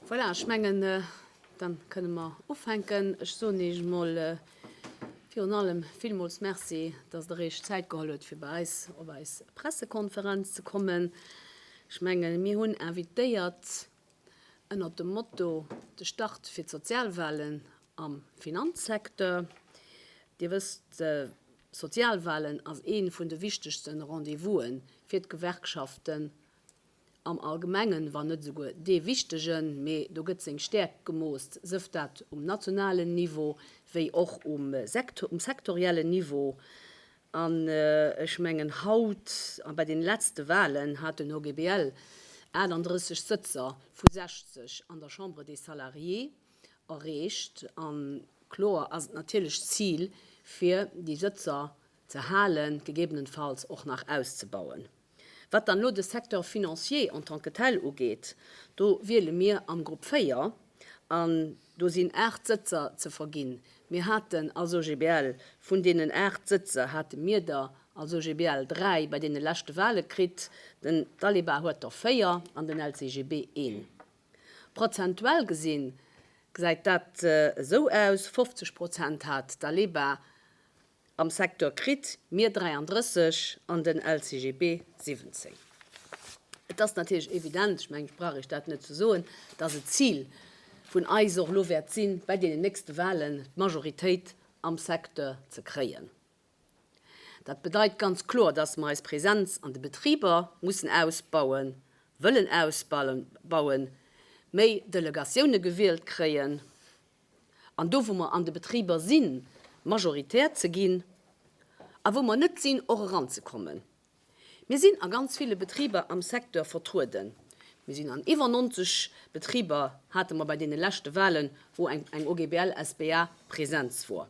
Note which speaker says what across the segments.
Speaker 1: Voilà, ech mengen, da kënne mer ufänken. Ech soen Iech emol virun allem villmools Merci, datt Der Iech Zäit geholl hutt, fir bei eis op eis Pressekonferenz ze kommen. Ech menge mir hunn invitéiert, ënnert dem Motto De Start fir d'Sozialwalen am Finanzsecteur. Dir wësst, d'Sozialwalen ass ee vun de wichtegste Rendez-vouse fir d'Gewerkschaften am Allgemengen, wann net esouguer dee wichtegen. Mee do gëtt seng Stäerkt gemooss, sëft dat um nationalen Niveau wéi och um sektoriellen Niveau. An ech mengen haut, a bei den letzte Wahlen hat den OGBL 38 Sëtzer vu 60 an der Chambre des Salariés erreecht, a kloer ass et natierlech d'Zil fir déi Sëtzer ze halen, gegebenenfalls och nach auszebauen. Wat dann elo de Secteur financier en tant que tel ugeet, do wiele mir am Grupp 4, an do sinn 8 Sëtzer ze verginn. Mir haten als OGBL, vun deenen 8 Sëtzer hate mir der als OGBL 3 bei deene leschte Wahle kritt, den Dalibard huet der 4 an den LCGB een. Prozentuell gesi gesäit dat esou aus, 50 Prozent hat Dalibard Am Secteur kritt. Mir 33 an den LCGB 17. Et ass natierlech evident, ech mengen, ech brauch Iech dat net ze soen, dass et d'Zil vun eis och elo wäert sinn, bei deenen nächste Wahlen d'Majoritéit am Secteur ze kréien. Dat bedeit ganz kloer, dass mer eis Präsenz an de Betriber mussen ausbauen, wëllen ausbauen, méi Delegatiounen gewielt kréien. an do wou mer an de Betriber sinn, majoritär ze ginn a wou mer net sinn, och eranzekommen. Mir sinn a ganz ville Betriber am Secteur vertrueden. Mir sinn an iwwer 90 Betriber, hate mer bei deene leschte Wahlen, wou eng OGBL-SBA Präsenz wor.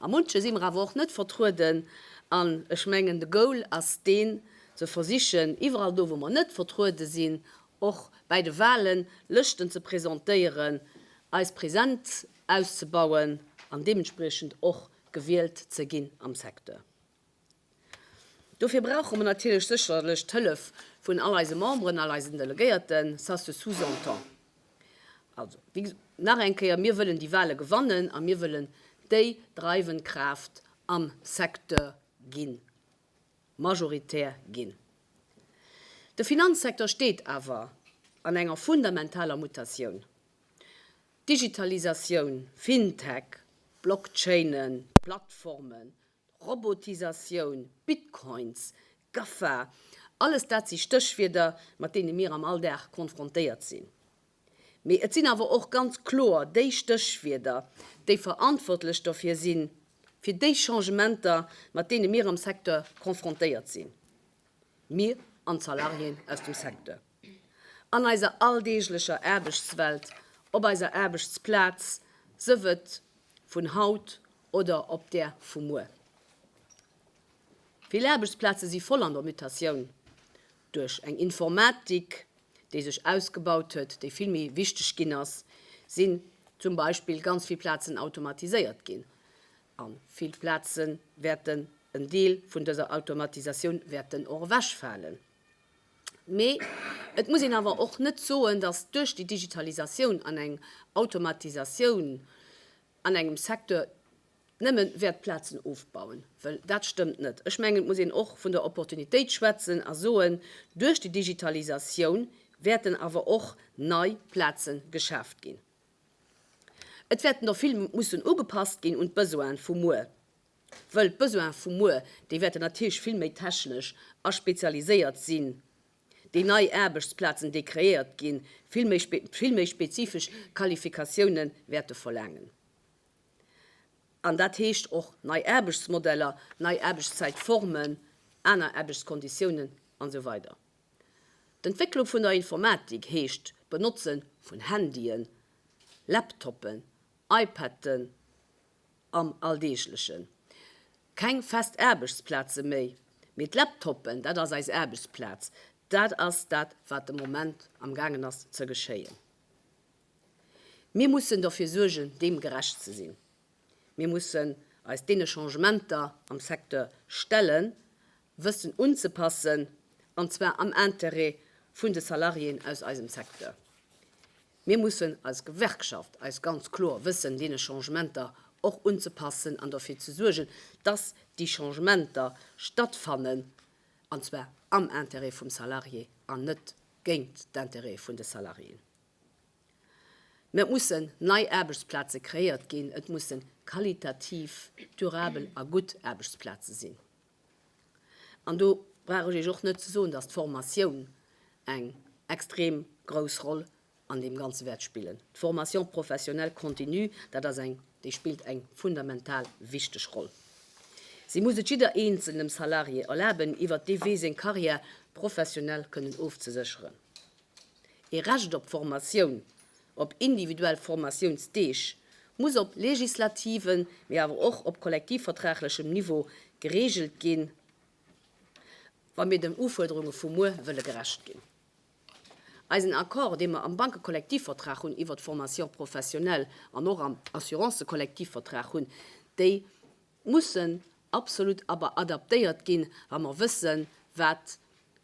Speaker 1: A munche si mer awer och net vertrueden. An ech mengen, de Goal ass deen, ze versichen, iwwerall do, wou mer net vertruede sinn, och bäi de Wahlen Lëschten ze presentéieren, eis Präsenz auszebauen an deementspriechend och gewielt ze ginn am Secteur. Dofir brauche mer natierlech sécherlech d'Hëllef vun all eise Memberen, all eisen Delegéierten, ça se sous-entend. Also, wéi nach eng Kéier, mir wëllen déi Wahle gewannen a mir wëllen déi dreiwend Kraaft am Secteur ginn, majoritär ginn. De Finanzsecteur steet awer an enger fundamentaler Mutatioun. Digitalisatioun, FinTech, Blockchainen, Plattformen, Robotisatioun, Bitcoins, GAFA, alles dat si Stéchwierder, mat deene mir am Alldag konfrontéiert sinn. Mee et sinn awer och ganz kloer déi Stéchwierder, déi verantwortlech dofir sinn, fir déi Changementer, mat deene mir am Secteur konfrontéiert sinn, mir an d'Salariéen aus dem Secteur. An eiser alldeeglecher Aarbechtswelt, op eiser Aarbechtsplaz, sëf et vun haut oder op där vu muer. Vill Aarbechtsplaze si voll an der Mutatioun, duerch eng Informatik, déi sech ausgebaut huet, déi vill méi wichteg ginn ass, sinn zum Beispill ganz vill Plazen automatiséiert ginn. A vill Plaze wäerten en Deel vun dëser Automatisatioun wäerten och ewechfalen. Mee et muss een awer och net soen, datt duerch déi Digitalisatioun an eng Automatisatioun an engem Secteur nëmme wäert Plazen ofbauen. Well dat stëmmt net. Ech mengen, et muss een och vun der Opportunitéit schwätzen a soen, duerch déi Digitalisatioun wäerten awer och nei Plaze geschaaft ginn. Et wäerten der vill mussen ugepasst ginn un d'Besoine vu muer. Wëll d'Besoin vu muer, déi wäerten natierlech vill méi technesch a spezialiséiert sinn, déi nei Aarbechtsplazen, déi kreéiert ginn, vill méi, vill méi spezifesch Qualifikatiounen wäerte verlaangen. An dat heescht och nei Aarbechtsmodeller, nei Aarbechtszäitformen, aner Aarbechtskonditiounen an esou weider. D'Entwécklung vun der Informatik heescht d'Benotze vun Handyen, Laptoppen, iPaden, am Alldeeglechen. Keng fest Aarbechtsplaze méi, mee d'Laptoppen, dat ass eis Aarbechtsplaz. Dat ass dat, wat de Moment am gaangen ass ze geschéien. Mir mussen dofir suergen, deem gerecht ze sinn. Mir mussen eis deene Changementer am Secteur stellen. wëssen unzepassen, an zwar am Intérêt vun de Salariéen aus eisem Secteur. Mir mussen als Gewerkschaft eis ganz kloer wëssen deene Changementer och unzepassen an dofir ze suergen, dass déi Changementer stattfannen, an zwar am Intérêt vum Salarié an net géint d'Intérêt vun de Salariéen. Mä et mussen nei Aarbechtsplaze kreéiert ginn, et mussen qualitativ durabel a gutt Aarbechtsplaze sinn. An do brauch ech Iech och net ze soen, dass d'Formatioun eng extrem grouss Roll an deem Ganze wäert spillen. D'Formation professionnelle continue, dat ass eng, déi spillt eng fundamental wichteg Roll. Si muss et jidder eenzelnem Salarié erlaben, iwwert dee Wee seng Carrière professionnelle kënnen ofzesécheren. Ee Recht op Formatioun, op individuell Formatiounsdeeg, muss op legislativem, mee awer och op kollektivvertraglechem Niveau gereegelt ginn, wa mir den Ufuerderunge vu muer wëlle gerecht ginn. Eisen Accord, dee mer am Bankekollektivvertrag hunn iwwert d'Formation professionnelle an och am Assurancekollektivvertrag hunn, déi mussen absolut awer adaptéiert ginn, wa mer wëssen, wat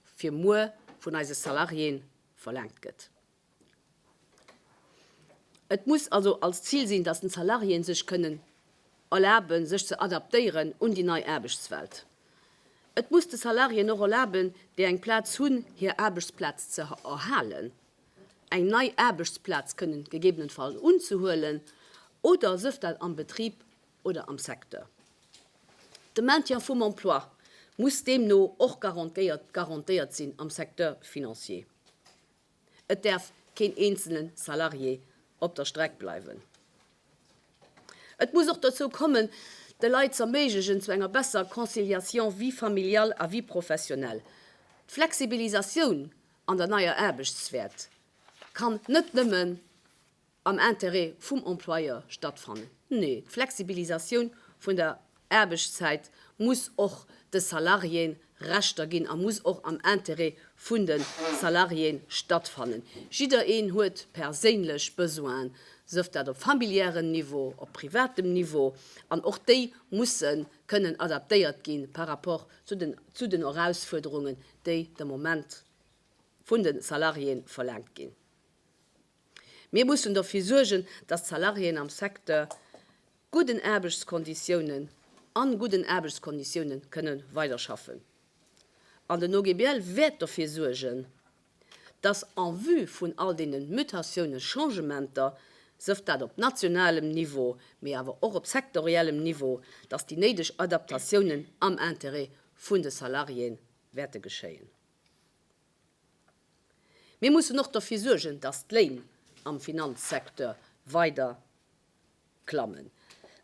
Speaker 1: fir muer vun eise Salariéen verlaangt gëtt. Et muss also als Zil sinn, dass d'Salariéen sech kënnen erlaben, sech ze adaptéieren un déi nei Aarbechtswelt. Et muss de Salariéen och erlaben, déi eng Plaz hunn, hir Aarbechtsplaz ze erhalen, eng nei Aarbechtsplaz kënnen gegebenenfalls unzehuelen oder sëf dat am Betrib oder am Secteur. De Maintien vum Emploi muss deemno och garantéiert sinn am Secteur financier. Et däerf keen eenzele Salarié op der Streck bleiwen. Et muss och dozou kommen, de Leit z'erméiglechen zu enger besser Conciliation vie familiale a vie professionnelle. D'Flexibilisatioun an der neier Aarbechtswelt kann net nëmmen am Intérêt vum Employeur stattfannen. Nee, d'Flexibilisatioun vun der Aarbechtszäit muss och de Salariéë Rechter ginn a muss och am Intérêt vun de Salariéë stattfannen. Jiddereen huet perséinlech Besoinen, sëft dat op familiären Niveau, op privatem Niveau, an och déi musse kënnen adaptéiert gi par rapport zu den Erausfuerderungen, déi de Moment vun de Salariéë verlaangt ginn. Mir mussen dofir suergen, datt d'Salariéen am Secteur gudden Aarbechtskonditiounen, a gudden Aarbechtskonditioune kënne weiderschaffen. An den OGBL wäert dofir suergen, datt en vue vun all deenen Mutatiounen, Changementer, sëft dat op nationalem Niveau, mee awer och op sektoriellem Niveau, datt déi néideg Adaptatiounen am Intérêt vun de Salariéen wäerte geschéien. Mir mussen och derfir suergen, dass d'Léin am Finanzsecteur weider klammen,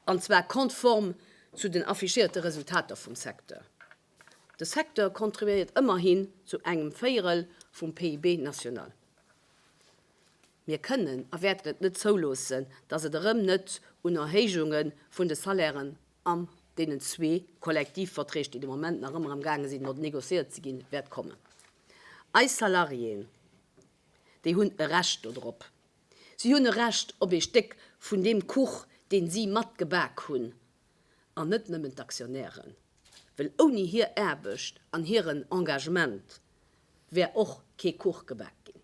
Speaker 1: an zwar konform zu den affichéierte Resultater vum Secteur. De Secteur contribuéiert ëmmerhin zu engem Véierel vum PIB national. Mir kënnen a wäerten et net zouloossen, dass et erëm net un Erhéijunge vun de Salairen an deenen zwee Kollektivverträg, déi de Moment nach ëmmer am gaange sinn no negociéiert ze ginn, wäert kommen. Eis Salariéen, déi hunn e Recht dodrop. Si hunn e Recht op ee Stéck vun deem Kuch, deen si mat gebak hunn, an net nëmmen d'Aktionären, well ouni hir Aarbecht an hiren Engagement wär och kee Kuch gebak ginn.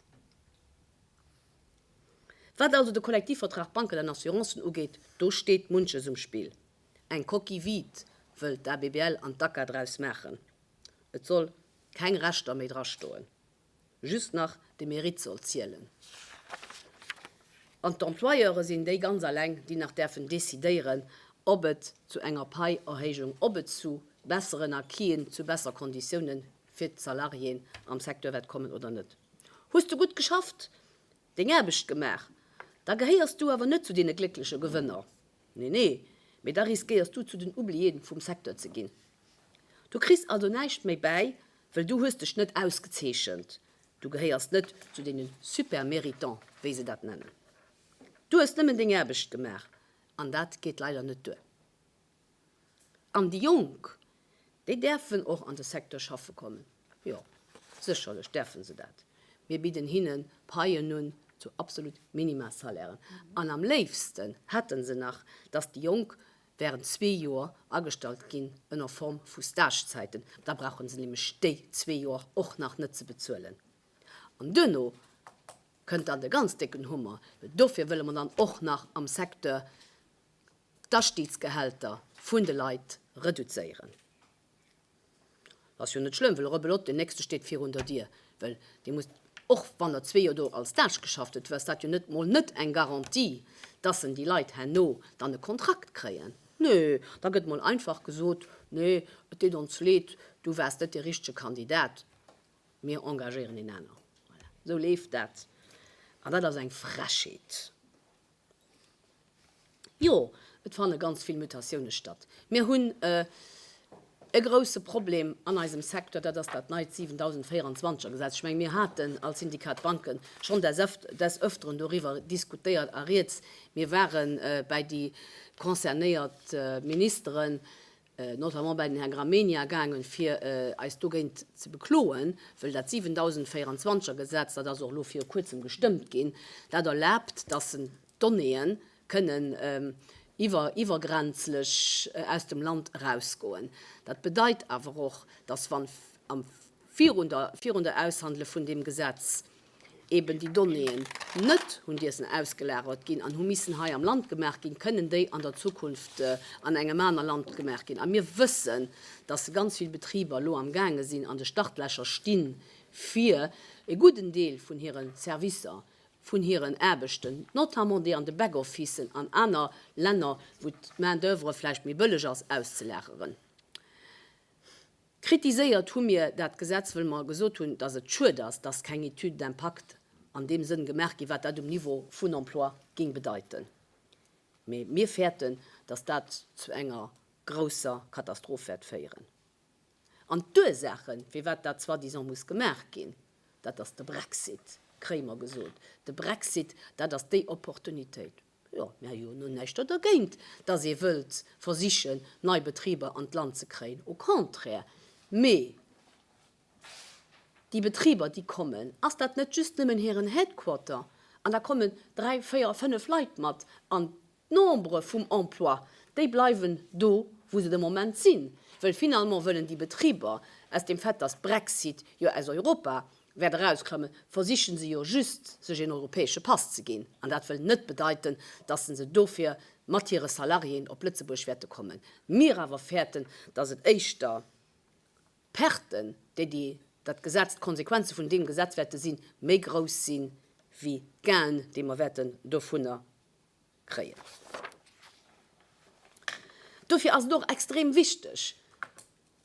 Speaker 1: Wat also de Kollektivvertrag Banken an Assurancen ugeet, do steet munches um Spill. Eng Coquille vide wëll d'ABBL an d'ACA draus maachen. Et soll keng Rechter méi drastoen, just nach de Mérite soll zielen. An d'Employeure sinn déi ganz alleng, déi nach däerfen decidéieren, ob et zu enger Paierhéijung, ob et zu besseren Acquisen, zu besser Konditiounen fir d'Salariéen am Secteur wäert kommen oder net. Hues du gutt geschafft, deng Aarbecht gemaach, da gehéiers du awer net zu deene gléckleche Gewënner, nee nee, mee da riskéiers du zu den Oubliéen vum Secteur ze ginn. Du kriss also näischt méi bäi, wëll du hues dech net ausgezeechent, du gehéiers net zu deene Super-Méritants, wéi se dat nennen. Du hues nëmmen deng Aarbecht gemaach an dat geet leider net duer. An déi Jonk, déi däerfen och an de Secteur schaffe kommen. Jo, sécherlech däerfe se dat. Mir bidden hinnen Paien un zu absolut Minimalsalairen. An am léifsten hätte se nach, dass déi Jonk während zwee Joer agestallt ginn ënner Form vu Stagezäiten. Da brauche se nämlech déi zwee Joer och nach net ze bezuelen. An duerno kënnt dann de ganz décken Hummer. Dofir wëlle mer dann och nach am Secteur d'Astiidsgehälter vun de Leit reduzéieren. Ass jo net schlëmm, wëll rebelot den nächste steet virun der Dier, wëll dee muss, och wann der zwee Joer do als Stage geschafft huet, du ass dat jo net mol net eng Garantie, dass en déi Leit herno dann e Kontrakt kréien. Nee, da gëtt mol einfach gesot, nee, et deet ons leed, du waars net dee richtege Kandidat, mir engagéieren een aner. Voilà, esou leeft dat, an dat ass eng Frechheet. Jo, et fanne ganz vill Mutatioune statt. Mir hunn e grousse Problem an eisem Secteur, dat ass dat neit 7024er Gesetz. Ech menge mir haten als Syndikat Banque schonn des Öfteren doriwwer diskutéiert a Rieds, mir ware bäi déi concernéiert Ministeren, notamment bei den Här Gramegna, gaangen, fir eis dogéint ze bekloen, wëll dat 7024 er Gesetz, dat ass och elo viru Kuerzem gestëmmt ginn, dat erlaabt, dass en d'Donnéeë kënnen iwwer iwwergrenzlech aus dem Land erausgoen. Dat bedeit awer och, dass wann am virun der virun der Aushandele vun deem Gesetz eben déi Donnéeën net hunn diesen ausgelagert ginn an hu missen hei am Land gemaach ginn, kënnen déi an der Zukunft an engem aner Land gemaach ginn. A mir wëssen, dass ganz vill Betriber elo am gaange sinn, an de Startlächer stinn, fir e gudden Deel vun hire Servicer, vun hiren Aarbechten, notamment déi an de Back-officen an aner Länner, wou d'Main-d'oeuvre vläicht méi bëlleg ass, auszelaageren. Kritiséiert hu mir dat Gesetz, wëll mer gesot hunn, dass et schued ass, dass keng Étude d'impact an deem Sënn gemaach ginn, wat dat um Niveau vun Emploi géing bedeiten. Mee mir fäerten, dass dat zu enger grousser Katastroph wäert féieren. An d'Ursaache firwat dat soi-disant muss gemaach ginn, dat ass de Brexit, kréie mer gesot. De Brexit, dat ass déi Opportunitéit. Jo, mir hu jo näischt do dergéint, dass ee wëllt versichen, nei Betriber an d'Land ze kréien, au contraire. Mee déi Betriber, déi kommen, ass dat net just nëmmen hiren Headquarter an da kommen dräi, véier a fënnef Leit mat an d'Nombre vum Emploi, déi bleiwen do, wou se de Moment sinn, well finalement wëllen déi Betriber, aus dem Fait, dass Brexit jo aus Europa wäert erauskrëmmen, versichen se jo just sech een europäesche Pass ze ginn an dat wëll net bedeiten, dass se dofir mat hire Salariéen op Lëtzebuerg wäerte kommen. Mir awer fäerten, dass et éischter d'Perten, déi déi dat Gesetz, d'Konsequenze vun deem Gesetz wäerte sinn, méi grouss sinn, wéi d'Gainen, déi mer wäerten dovunner. kréien. Dofir ass et och extrem wichteg,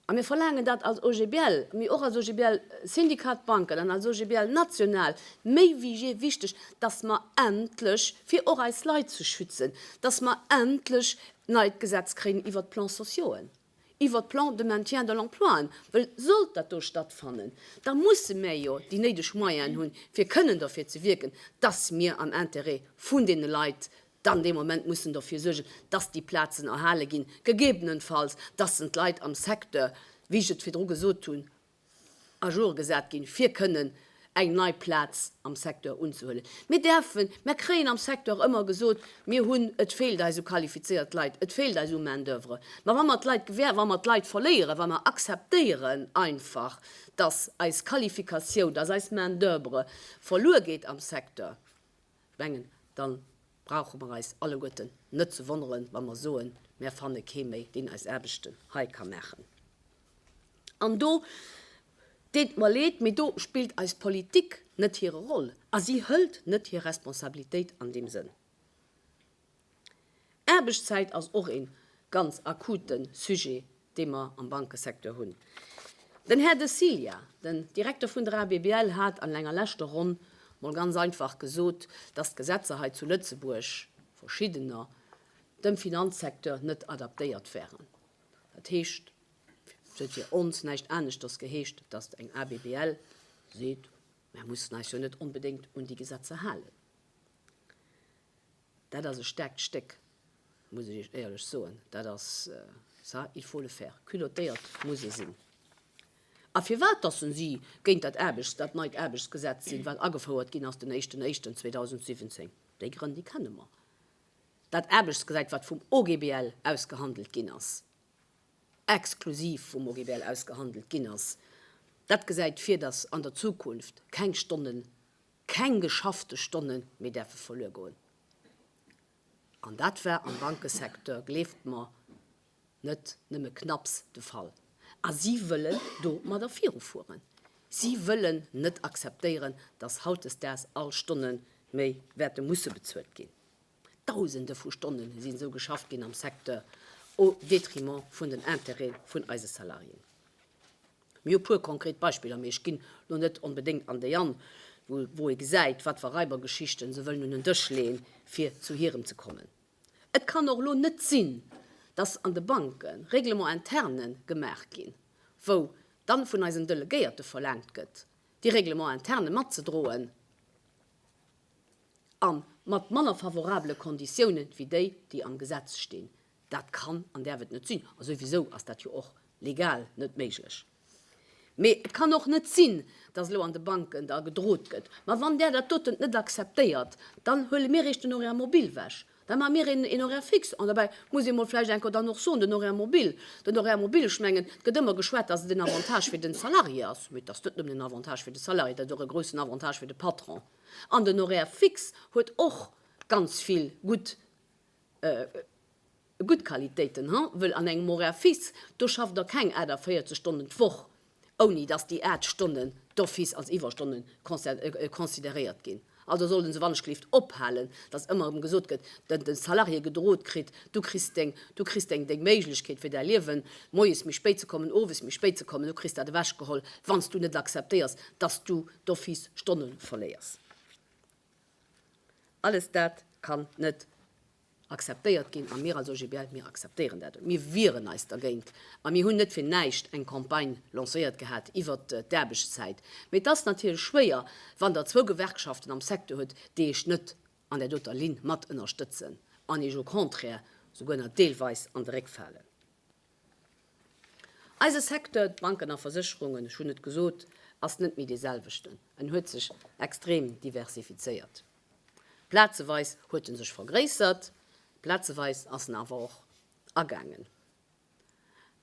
Speaker 1: a mir verlaangen dat als OGBL, mee och als OGBL Syndicat d'Banken an als OGBL national méi wéi jee wichteg, dass mer endlech, fir och eis Leit ze schützen, dass mer endlech d'neit Gesetz kréien iwwert d'Plans sociauxen. iwwert d'Plans de maintien de l'emploien, well sollt dat do stattfannen, da musse mir jo déi néideg Moyenen hunn, fir kënnen dofir ze wierken, dass mir am Intérêt vun deene Leit dann dee Moment mussen dofir suergen, dass déi Plazen erhale ginn, gegebenenfalls, dass en d'Leit am Secteur, wéi ech et virdru gesot hunn, à jour gesat ginn, fir kënnen eng nei Plaz am Secteur unzehuelen. Mir däerfen, mer kréien am Secteur ëmmer gesot, mir hunn, et feelt eis u qualifizéiert Leit, et feelt eis u Main d'oeuvre. Mä wa mer d'Leit gewähr, wa mer d'Leit verléieren, wa mer akzeptéieren einfach, dass eis Qualifikatioun, dass eis Main d'oeuvre verluer geet am Secteur, Ech mengen, da brauche mer eis alleguerten net ze wonneren, wa mer soen, Mer fanne kee méi, deen eis Aarbechten hei ka maachen. An do, deet mer leed, mee do spillt eis Politik net hire Roll a si hëlt net hir Responsabilitéit an deem Sënn. Aarbechtszäit ass och ee ganz akute Sujet, dee mer am Bankesecteur hunn. Den Här De Cilia, den Direkter vun der ABBL, hat an enger leschter Ronn mol ganz einfach gesot, dass d'Gesetzer hei zu Lëtzebuerg, verschiddener, dem Finanzsecteur net adaptéiert wären. Dat heescht, et huet fir ons näischt aneschters geheescht, dass eng ABBL seet, Mir mussen eis jo net onbedéngt un déi Gesetzer halen. Dat ass e staarkt Stéck, muss ech Iech éierlech soen. Dat ass, ça, il faut le faire, culottéiert muss e sinn. A firwat datt se si géint dat Aarbechts-, dat neit Aarbechtsgesetz sinn, wat agefouert ginn ass den éischten Éischten 2017, déi Grënn, déi kenne mer. Dat Aarbechtsgesetz, wat vum OGBL ausgehandelt ginn ass, exklusiv vum OGBL ausgehandelt ginn ass, dat gesäit vir, datt an der Zukunft keng Stonnen keng geschaffte Stonne méi däerfe verluer goen, an dat war am Bankesecteur, gleeft mer, net nëmme knapps de Fall. A si wëllen do matter virufueren. Si wëllen net akzeptéieren, datt hautdesdaags all Stonne méi wäerte musse bezuelt ginn. Dausende vu Stonnen sinn esou geschafft ginn am Secteur au détriment vun den Intérêt'en vun eise Salariéen. Mir hu puer konkret Beispiller, mee ech ginn lo net onbedéngt an déi an, wou ee gesäit, wat wa Raibergeschichten se wëllen un den Dësch leeën, fir zu hirem ze kommen. Et kann och lo net sinn, dass an de Banke Règlements internes gemaach ginn, wou dann vun eisen Delegéierte verlaangt gëtt, déi Règlements internes matzedroen. A mat manner favorabele Konditiounen wéi déi, déi am Gesetz stinn. Dat kann an däerf et net sinn. A souwisou ass dat jo och legal net méiglech. Mee et kann och net sinn, datt elo an de Banken da gedrot gëtt, ma wann där dat dotent net akzeptéiert, dann huele mir iech den Horaire mobile wech. Da maache mir een Horaire fixe. An dobäi muss ee mol vläicht enker dann och soen, den Horaire mobile, den Horaire mobile, ech mengen, et gëtt ëmmer geschwat, datt et en Avantage fir de Salarié ass. Mee et ass net nëmmen en Avantage fir de Salarié, dat ass och e groussen Avantage fir de Patron. An den Horaire fixe huet och ganz vill gutt gutt Qualitéiten, ha, wëll an engem Horaire fixe, do schafft Der keng 48 Stonnen d'Woch, ouni dass déi 8 Stonnen d'office als Iwwerstonne consideréiert ginn. Also soll den se wannechgelift ophalen, dass ëmmer erëm gesot gëtt, de de Salarié gedroot kritt, du kriss deng, du kriss deng, deng Méiglechkeet fir däi Liewen, moies méi spéit ze kommen, owes méi spéit ze kommen, du kriss dat ewechgeholl, wann s du net acceptéiers, dass du, d'office Stonne verléiers. Alles dat kann net akzeptéiert ginn a mir als OGBL, mir akzeptéieren dat net. Mir wieren eis dergéint a mir hunn net fir näischt eng Campagne lancéiert gehat iwwert d'Aarbechtszäit. Mee et ass natierlech schwéier, wann Der zwou Gewerkschaften am Secteur hutt, déi Iech net an där doter Linn mat ënnerstëtzen an Iech au contraire souguer nach deelweis an de Réck falen. Eise Secteur, d'Banken a Versécherungen, ech hunn et gesot, ass net méi dee selwechten. En huet sech extrem diversifizéiert. Plazeweis huet e sech vergréissert, plazeweis ass en awer och agaangen.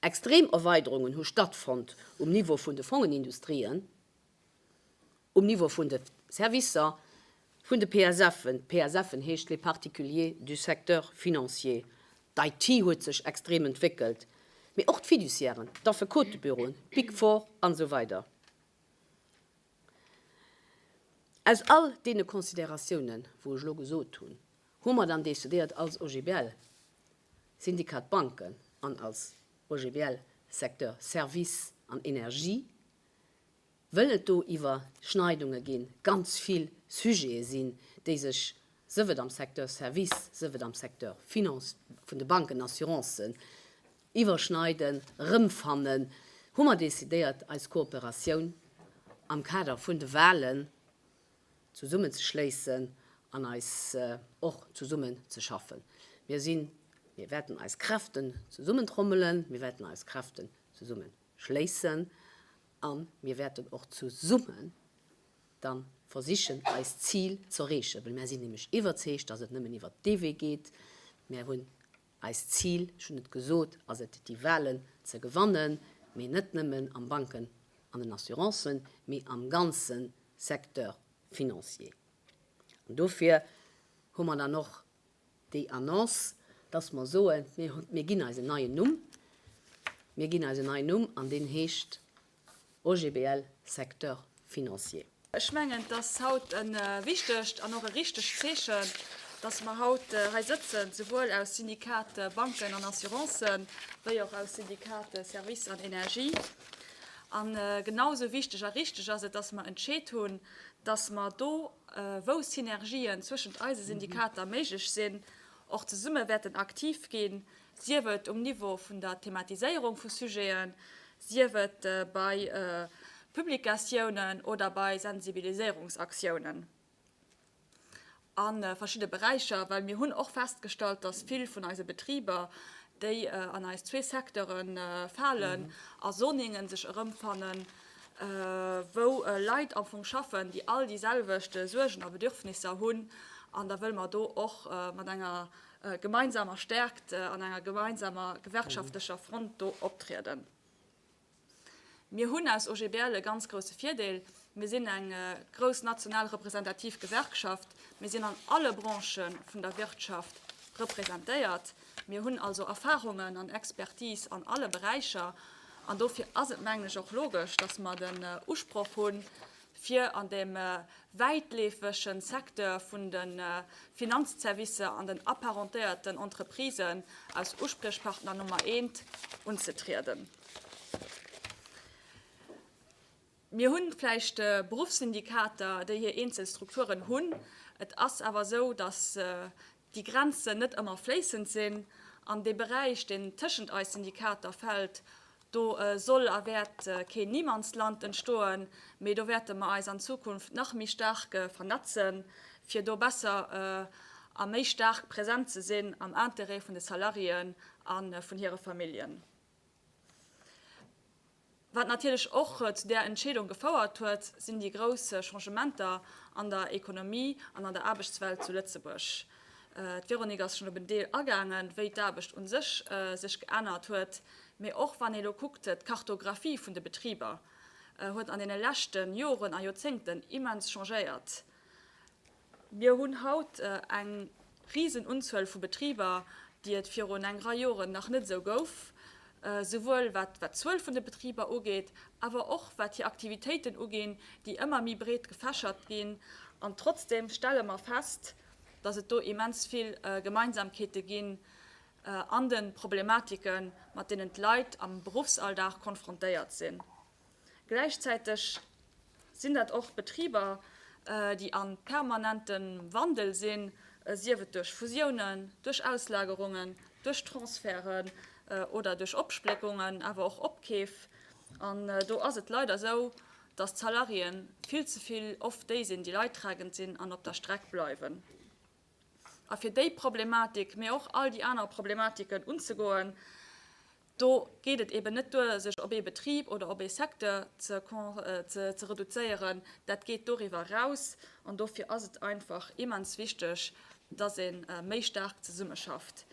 Speaker 1: Extrem Erweiderungen hu stattfonnt um Niveau vun de Fongenindustrien, Um Niveau vun de Servicer vun de PSFen, d'PSFen heescht les particuliers du secteur financier, d'IT huet sech extrem entwéckelt, mee och d'Fiduciairen, d'Affekotebüroen, d'Big Four an esou weider. Aus all deene Consideratiounen, wou ech elo gesot hunn, hu mer dann decidéiert als OGBL Syndicat Banken an als OGBL Secteur Services an Energie, wëll et do Iwwerschneidunge ginn, ganz vill Sujete sinn, déi sech, sëf et am Secteur Service, sëf et am Secteur Finance, vun de Banken, Assurancen, iwwerschneiden, erëmfannen, hu mer decidéiert, eis Kooperatioun am Kader vun de Wahlen zesummenzeschléissen an eis och zesummen ze schaffen. Mir sinn, mir wäerten eis Kräften zesummentrommelen, mir wäerten eis Kräften zesummenhuelen. schléissen a mir wäerten och zesumme da versichen, eist Zil ze erreechen, well mär sinn nämlech iwwerzeegt, dass et nëmmen iwwert dee Wee geet. Mär hunn eist Zil, ech hunn et gesot, ass et, déi Wahlen ze gewannen, mee net nëmmen am Banken an den Assurancen, mee am ganze Secteur financier. An dofir hu mer dann och Déi Annonce, dass mer soen, mir ginn eis en neien Numm, mir ginn eis en neien Numm an deen heescht OGBL Secteur financier. Ech mengen, et
Speaker 2: ass haut e wichtegt an och e richtegt Zeechen, dass mer haut hei sëtzen, souwuel aus Syndicate Banken an Assurancen wéi och aus Syndicate Services an Energie. A genau esou wichteg a richteg ass et, dass mer entscheet hunn, dass mer do, wou Synergien zwëschent eise Syndikater méiglech sinn, och zesumme wäerten aktiv ginn, sief et um Niveau vun der Thematiséierung vu Sujeten, sief et bei Publikatiounen oder bei Sensibiliséierungsaktiounen a verschidde Beräicher. Well mir hunn och festgestallt, dass vill vun eise Betriber, déi an eis zwee Secteure falen, a Soningen sech erëmfannen, wou Leit am Fong schaffen, déi all déi selwecht Suergen a Bedürfnisser hunn, an da wëlle mer do och mat enger gemeinsamer Stärkt an enger gemeinsamer gewerkschaftlecher Front do optrieden. Mir hunn als OGBL e ganz grouse Virdeel, mir sinn eng grouss national representativ Gewerkschaft, mir sinn an alle Branchë vun der Wirtschaft representéiert, Mir hunn also Erfahrungen an Expertise an alle Beräicher, an dofir ass et, mengen ech, och logesch, dass mer den Usproch hunn, fir an deem wäitleefege Secteur vun de Finanzservicer an den apparentéierten Entreprisen als Uspriechpartner Nummer eent unzetrieden. Mir hunn vläicht Beruffssyndikater, déi hir eenzel Strukturen hunn. Et ass awer esou, datt déi Grenzen net ëmmer fléissend sinn. An dee Beräich, deen tëschent eis Syndikater fält, do soll a wäert keen Niemandsland entstoen, mee do wäerte mer eis an Zukunft nach méi staark vernetzen, fir do besser a méi staark present ze sinn am Interêt vun de Salariéen a vun hire Familljen. Wat natierlech och zu där Entscheedung gefouert huet, sinn déi grouss Changementer an der Ekonomie an an der Aarbechtswelt zu Lëtzebuerg. D'Véronique ass schonn op en Deel agaangen, wéi d'Aarbecht u sech sech geännert huet. Mee och wann ee lo kuckt, d'Kartographie vun de Betriber huet an deene leschte Joren a Joerzéngten immens changéiert. Mir hunn haut eng risen Unzuel vu Betriber, déi et virun eng Rei Joren nach net esou gouf, souwuel wat d'Zuel vun de Betriber ugeet, awer och wat hir Aktivitéiten uginn, déi ëmmer méi breet gefächert ginn. An trotzdeem stelle mer fest, dass et do immens vill Gemeinsamkeete ginn an de Problematike mat deenen d'Leit am Beruffsalldag konfrontéiert sinn. Gläichzäiteg sinn dat och Betriber, déi a permanente Wandel sinn, sief et duerch Fusiounen, duerch Auslagerungen, duerch Transferten oder duerch Opspléckungen, awer och Opkeef. An do ass et leider esou, datt d'Salariéen vill ze vill oft déi sinn, déi leidtragend sinn an op der Streck bleiwen. A fir déi Problematik, mee och all déi aner Problematiken unzegoen, Do geet et eben net duer, sech op ee Betrib oder op ee Secteur ze reduzéieren, dat geet doriwwer eraus. An dofir ass et einfach immens wichteg, dass ee méi staark zesummeschafft.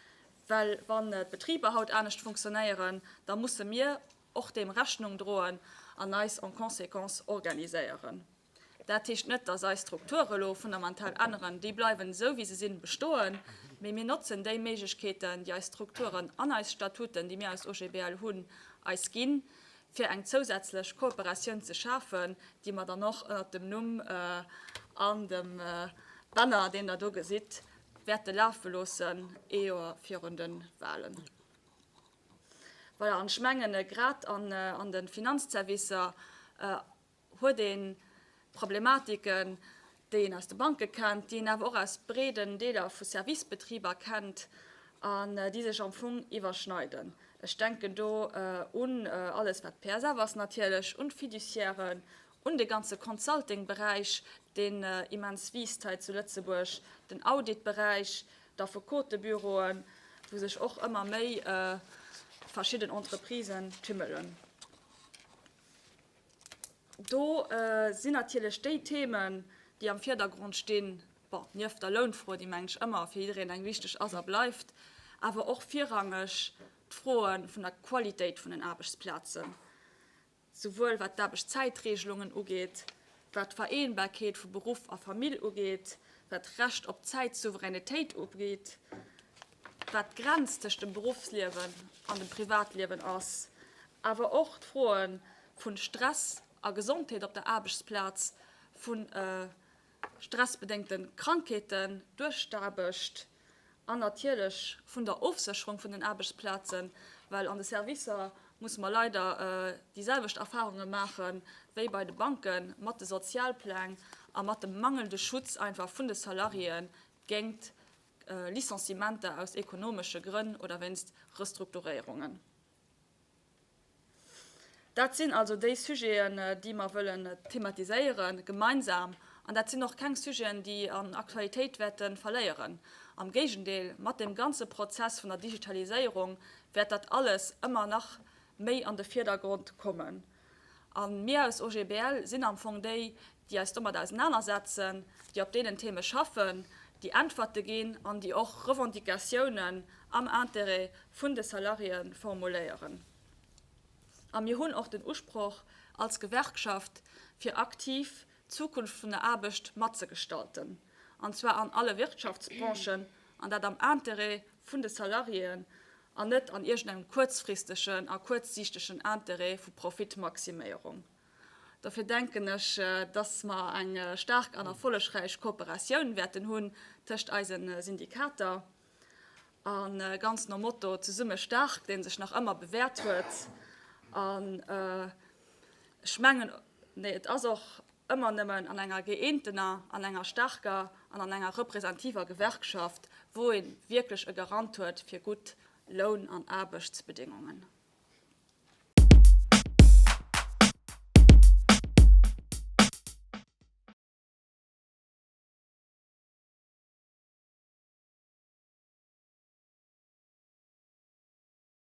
Speaker 2: Well wann d'Betriber haut anescht funktionéieren, da musse mir och deem Rechnung droen an eis en conséquence organiséieren. Dat heescht net, dass eis Strukture elo fundamental änneren, déi bleiwen esou wéi se sinn bestoen, mee mir notzen déi Méiglechkeeten, déi eis Strukturen an eis Statuten, déi mir aus OGBL hunn, eis ginn, fir eng zousätzlech Kooperatioun ze schafen, déi mer dann och ënnert dem Numm an dem Banner, deen Der do gesitt, wäerte lafe loossen, ee Joer virun de Wahlen. Voilà, an ech mengen, grad an de Finanzservicer, huet ee Problematiken, déi een aus de Banke kennt, déi een awer och aus breeden Deeler vu Servicebetriber kennt an déi sech am Fong iwwerschneiden. Ech denken do un alles, wat d'PSF ass natierlech, un d'Fiduciairen, un de ganze Consulting-Beräich, deen immens wiisst hei zu Lëtzebuerg, den Audit-Beräich, d'Affekotebüroen, wou sech och ëmmer méi verschidden Entreprisen tümmelen. Do sinn natierlech déi Themen, déi am Virdergrond stinn, bon, nieft der Lounfro, déi, mengen ech, ëmmer fir jiddereen eng wichteg ass a bleift, awer och virrangeg d'Froe vun der Qualitéit vun den Aarbechtsplazen, souwuel wat d'Aarbechtszäitregelungen ugeet, wat d'Vereenbarkeet vu Beruff a Famill ugeet, wat d'Recht op Zäitsouveränitéit ugeet. wat d'Grenz tëscht dem Beruffsliewen an dem Privatliewen ass, awer och d'Froe vu Stress a Gesondheet op der Aarbechtsplaz, vu stressbedéngte Krankheeten duerch d'Aarbecht an natierlech vun der Ofsécherung vun den Aarbechtsplazen, well an de Servicer musse mer leider déi selwecht Erfarunge maache wéi bei de Banke mat de Sozialpläng a mat dem mangelnde Schutz einfach vun de Salariéë géingt Licenciementer aus ekonomesche Grënn oder wéinst Restrukturéierungen. Dat sinn also déi Sujeten, déi mer wëllen thematiséiere gemeinsam. An dat sinn och keng Sujeten, déi an Aktualitéit wäerte verléieren. Am Géigendeel, mat deem ganze Prozess vun der Digitaliséierung wäert dat alles ëmmer nach méi an de Vierdergrond kommen. A mir aus OGBL sinn am Fong déi, déi eis domat ausenanersetzen, déi op deenen Theme schaffen, déi Äntwerte ginn an déi och Revendicatiounen am Intérêt vun de Salariéë formuléieren. A mir hunn och den Usproch als Gewerkschaft, fir aktiv d'Zukunft vun der Aarbecht matzegestalten, an zwar an alle Wirtschaftsbranchen, an dat am Intérêt vun de Salariéen an net an iergendengem kuerzfristegen a kuerzsiichtegen Intérêt vu Profitmaximéierung. Dofir denken ech, dass mer eng staark an erfollegräich Kooperatioun wäerten hunn tëscht eise Syndikater a ganz nom Motto Zesumme staark, dee sech nach ëmmer bewäert huet. An ech mengen, et ass och Ëmmer nëmmen an enger gëeentener, an enger staarker an an enger representiver Gewerkschaft, wou ee wierklech e Garant huet fir gutt Loun an Aarbechtsbedingungen.